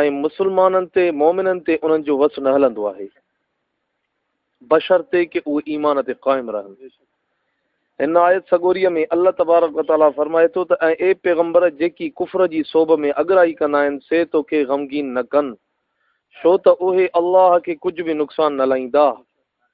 ۽ مسلمانن تي، مؤمنن تي، انهن جو وس نه هلندو آهي، بشرطيڪ اهي ايمان تي قائم رهن. هن آيت سڳوريء ۾ الله تبارڪ و تعاليٰ فرمائي ٿو ته، ۽، اي پيغمبر! جيڪي ڪفر جي سوڀ ۾ اڳرائي ڪندا آهن، سي تو کي غمگين نه ڪن، ڇو ته اهي الله کي ڪجهه به نقصان نه لائيندا.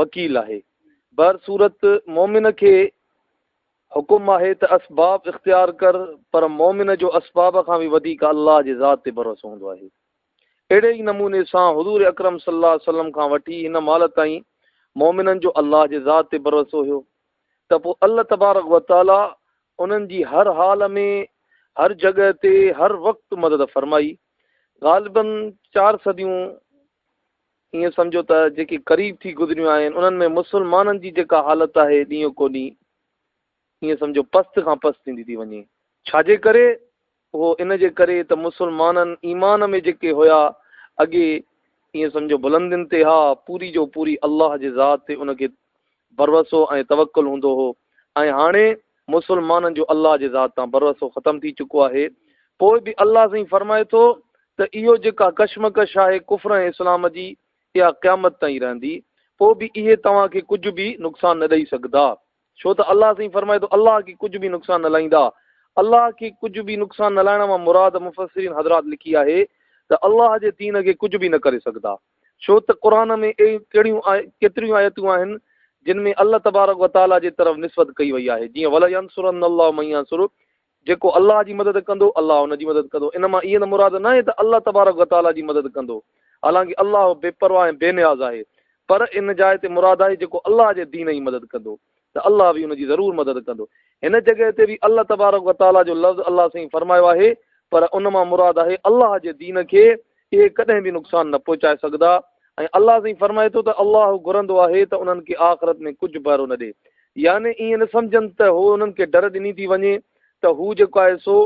وڪيل آهي. بهر صورت مومن کي حڪم آهي ته اسباب اختيار ڪر پر مومن جو اسباب کان به وڌيڪ الله جي ذات تي ڀروسو هوندو آهي. اهڙي ئي نموني سان حضور اڪرم صلي الله عليه وسلم کان وٺي هن مهل تائين مومنن جو الله جي ذات تي ڀروسو هيو ته پوء الله تبارڪ و تعالي انهن جي هر حال ۾ هر جڳهه تي هر وقت مدد فرمائي. غالباً چار صديون ائين سمجهو ته جيڪي قريب ٿي گذريون آهن انهن ۾ مسلمانن جي جيڪا حالت آهي ڏينهون ڪو ڏينهن ائين سمجهو پست کان پست ٿيندي ٿي وڃي. ڇا جي ڪري؟ اهو ان جي ڪري ته مسلمانن ايمان ۾ جيڪي هيا اڳي ائين سمجهو بلندين تي ها پوري جو پوري الله جي ذات تي ان کي ڀروسو ۽ توڪل هوندو هو ۽ هاڻي مسلمانن جو الله جي ذات تان ڀروسو ختم ٿي چڪو آهي پوء به الله سائين فرمائي ٿو ته اهو جيڪا ڪشمڪش آهي ڪفر ۽ اسلام جي اها قيامت تائين رهندي پوء به اهي توهان کي ڪجهه به نقصان نه ڏئي سگهدا ڇو ته الله سائين فرمائي ٿو الله کي ڪجهه به نقصان نه لائيندا الله کي ڪجهه به نقصان نه لائڻ مان مراد مفسرين حضرات لکي آهي ته الله جي دين کي ڪجهه به نه ڪري سگهدا ڇو ته قرآن ۾ اهڙيون ڪهڙيون ڪيتريون آيتون آهن جن ۾ الله تبارڪ و تعاليٰ جي طرف نسبت ڪئي وئي آهي جيئن ولينصرن الله من ينصره جيڪو الله جي مدد ڪندو الله ان جي مدد ڪندو ان مان اها مراد ناهي ته الله تبارڪ و تعاليٰ جي مدد ڪندو حالانڪه الله بي پرواهه ۽ بي نياز آهي پر ان جاء تي مراد آهي جيڪو الله جي دين جي مدد ڪندو ته الله به ان جي ضرور مدد ڪندو. هن جڳهه تي به الله تبارڪ و تعاليٰ جو لفظ الله سائين فرمايو آهي پر ان مان مراد آهي الله جي دين کي اهي ڪڏهن به نقصان نه پهچائي سگهندا ۽ الله سائين فرمائي ٿو ته الله گهرندو آهي ته انهن کي آخرت ۾ ڪجهه ڀر نه ڏي يعني ائين نه سمجهن ته هو انهن کي ڍر ڏني ٿي وڃي ته هو جيڪو آهي سو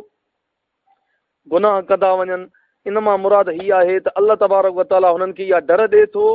گناهه ڪندا وڃن، ان مان مراد هي آهي ته الله تبارڪ و تعالي هنن کي اها ڊر ڏئي ٿو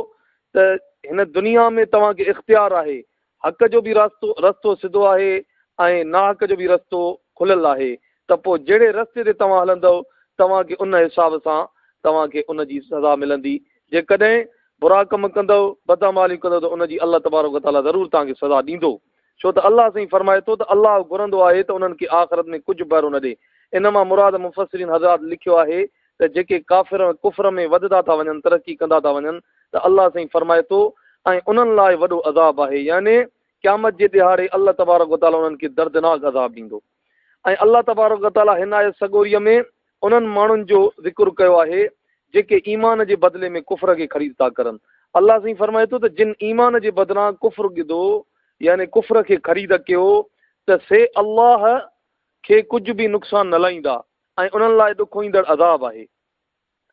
ته هن دنيا ۾ توهان کي اختيار آهي، حق جو به راستو رستو سڌو آهي ۽ ناحق جو به رستو کليل آهي ته پوء جهڙي رستي تي توهان هلندؤ توهان کي ان حساب سان توهان کي ان جي سزا ملندي، جيڪڏهن برا ڪم ڪندؤ، بدعماليون ڪندؤ ته ان جي الله تبارڪ و تعالي ضرور توهان کي سزا ڏيندو. ڇو ته الله سائين فرمائي ٿو ته الله گهرندو آهي ته انهن کي آخرت ۾ ڪجهه بهرو نه ڏي. ان مان مراد مفسرين حضرات لکيو آهي ته جيڪي ڪافر ڪفر ۾ وڌدا ٿا وڃن ترقي ڪندا ٿا وڃن ته الله سائين فرمائي ٿو ۽ انهن لاء وڏو عذاب آهي يعني قيامت جي ڏهاڙي الله تبارڪ وتعالي انهن کي دردناڪ عذاب ڏيندو. ۽ الله تبارڪ و تعالي هن آيت سڳوريء ۾ انهن ماڻهن جو ذڪر ڪيو آهي جيڪي ايمان جي بدلي ۾ ڪفر کي خريد ٿا ڪرن الله سائين فرمائي ٿو ته جن ايمان جي بدران ڪفر گدو يعني ڪفر کي خريد ڪيو ته سي الله کي ڪجهه به نقصان نه لائيندا ۽ انهن لاء ڏکوئيندڙ عذاب آهي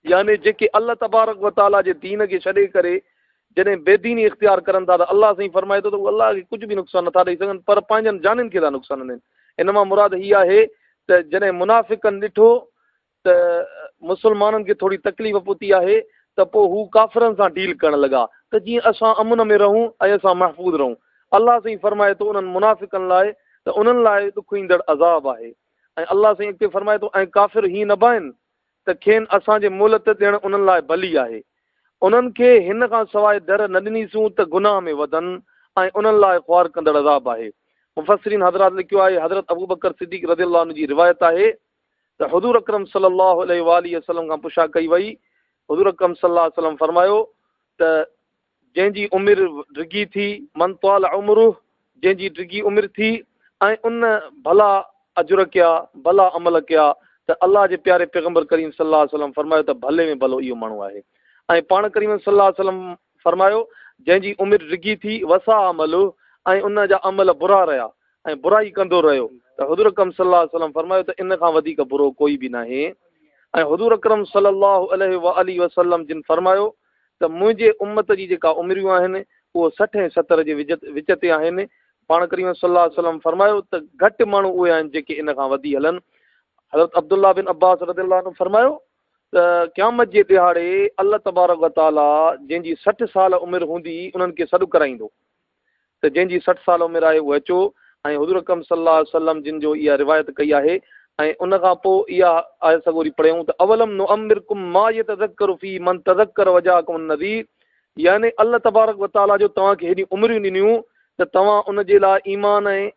يعني جيڪي الله تبارڪ و تعاليٰ جي دين کي ڇڏي ڪري جڏهن بي ديني اختيار ڪرن ٿا ته الله سائين فرمائي ٿو ته هو الله کي ڪجهه به نقصان نٿا ڏئي سگهن پر پنهنجن جانين کي ٿا نقصان ڏين ان مان مراد هي آهي ته جڏهن منافقن ڏٺو ته مسلمانن کي ٿوري تڪليف پهتي آهي ته پوء هو ڪافرن سان ڊيل ڪرڻ لڳا ته جيئن اسان امن ۾ رهون ۽ اسان محفوظ رهون الله سائين فرمائي ٿو انهن منافقن لاء ته انهن لاء ڏک ايندڙ عذاب آهي ۽ الله سائين اڳتي فرمائي ٿو ۽ ڪافر هي نه بائن ته کين اسان جي مهلت ڏيڻ انهن لاء ڀلي آهي. انهن کي هن کان سواء در نه ڏنيسون ته گناهه ۾ وڌن ۽ انهن لاء خوار ڪندڙ عذاب آهي. مفسرين حضرات لکيو آهي، حضرت ابوبڪر صديق رضي الله عنه جي روايت آهي ته حضور اڪرم صلي الله عليه واٰله وسلم کان پڇا ڪئي وئي، حضور اڪرم صلي الله عليه وسلم فرمايو ته، جنهن جي عمر ڊگهي ٿي، من طال عمره، جنهن جي ڊگهي عمر ٿي ۽ ان ڀلا اجر ڪيا، ڀلا عمل ڪيا ته الله جي پياري پيغمبر ڪريم صلي الله عليه وسلم فرمايو ته ڀلي ۾ ڀلو اهو ماڻهو آهي ۽ پاڻ ڪريم صلي الله عليه وسلم فرمايو جنهن جي عمر ڊگهي ٿي وسا عمله ۽ ان جا عمل برا رهيا ۽ برائي ڪندو رهيو ته حضور اڪرم صلي الله عليه وسلم فرمايو ته ان کان وڌيڪ برو ڪوئي به ناهي ۽ حضور اڪرم صلي الله عليه وآله وسلم جن فرمايو ته منهنجي امت جي جيڪا عمريون آهن اهو سٺ ۽ ستر جي وچ تي آهن، پاڻ ڪريم صلي الله عليه وسلم فرمايو ته گهٽ ماڻهو اهي آهن جيڪي ان کان وڌي هلن، حضرت عبدالله بن عباس رضي الله عنه فرمايو ته قيامت جي ڏهاڙي الله تبارڪ وتعاليٰ جنهن جي سٺ سال عمر هوندي انهن کي سڏ ڪرائيندو. ته جنهن جي سٺ سال عمر آهي اهو اچو ۽ حضور اڪرم صلي الله عليه وسلم جن جو اها روايت ڪئي آهي ۽ ان کان پوء اها آيت سڳوري پڙهيون ته اولم نعمرڪم ما يتذکر فيه من تذکر وجاءكم النذير يعني الله تبارڪ وتعالي جو توهان کي هيڏيون عمريون ڏنيون ته توهان ان جي لاء ايمان ۽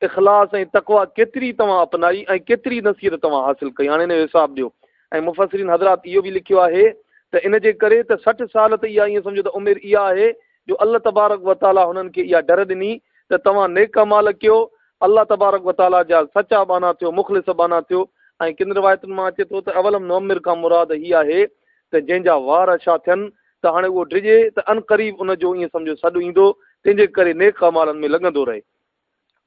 اخلاص ۽ تقويٰ ڪيتري توهان اپنائي ۽ ڪيتري نصيحت توهان حاصل ڪئي هاڻي ان جو حساب ڏيو ۽ مفسرين حضرات اهو به لکيو آهي ته ان جي ڪري ته سٺ سال ته اها ائين سمجهو ته عمر اها آهي جو الله تبارڪ و تعاليٰ هنن کي اها ڍر ڏني ته توهان نيڪ اعمال ڪيو، الله تبارڪ و تعاليٰ جا سچا ٻانها ٿيو، مخلص ٻانها ٿيو ۽ ڪن روايتن مان اچي ٿو ته اولم نعمر کان مراد هي آهي ته جنهن جا وار اڇا ٿين ته هاڻي اهو ڊڄي ته عنقريب ان جو ائين سمجهو سڏ ايندو تنهنجي ڪري نيڪ اعمالن ۾ لڳندو رهي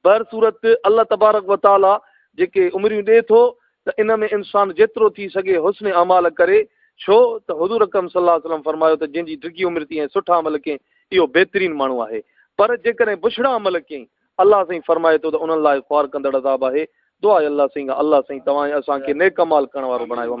بهر صورت الله تبارڪ و تعالي جيڪي عمريون ڏي ٿو ته ان ۾ انسان جيترو ٿي سگهي حسن اعمال ڪري ڇو ته حضور اڪرم صلي الله عليه وسلم فرمايو ته جنهن جي ڊگهي عمر ٿي ۽ سٺا عمل ڪئين اهو بهترين ماڻهو آهي پر جيڪڏهن بڇڙا عمل ڪئين الله سائين فرمائي ٿو ته انهن لاء خوار ڪندڙ عذاب آهي دعا اي الله سائين الله سائين توهان اسان کي نيڪ عمال ڪرڻ وارو بڻايو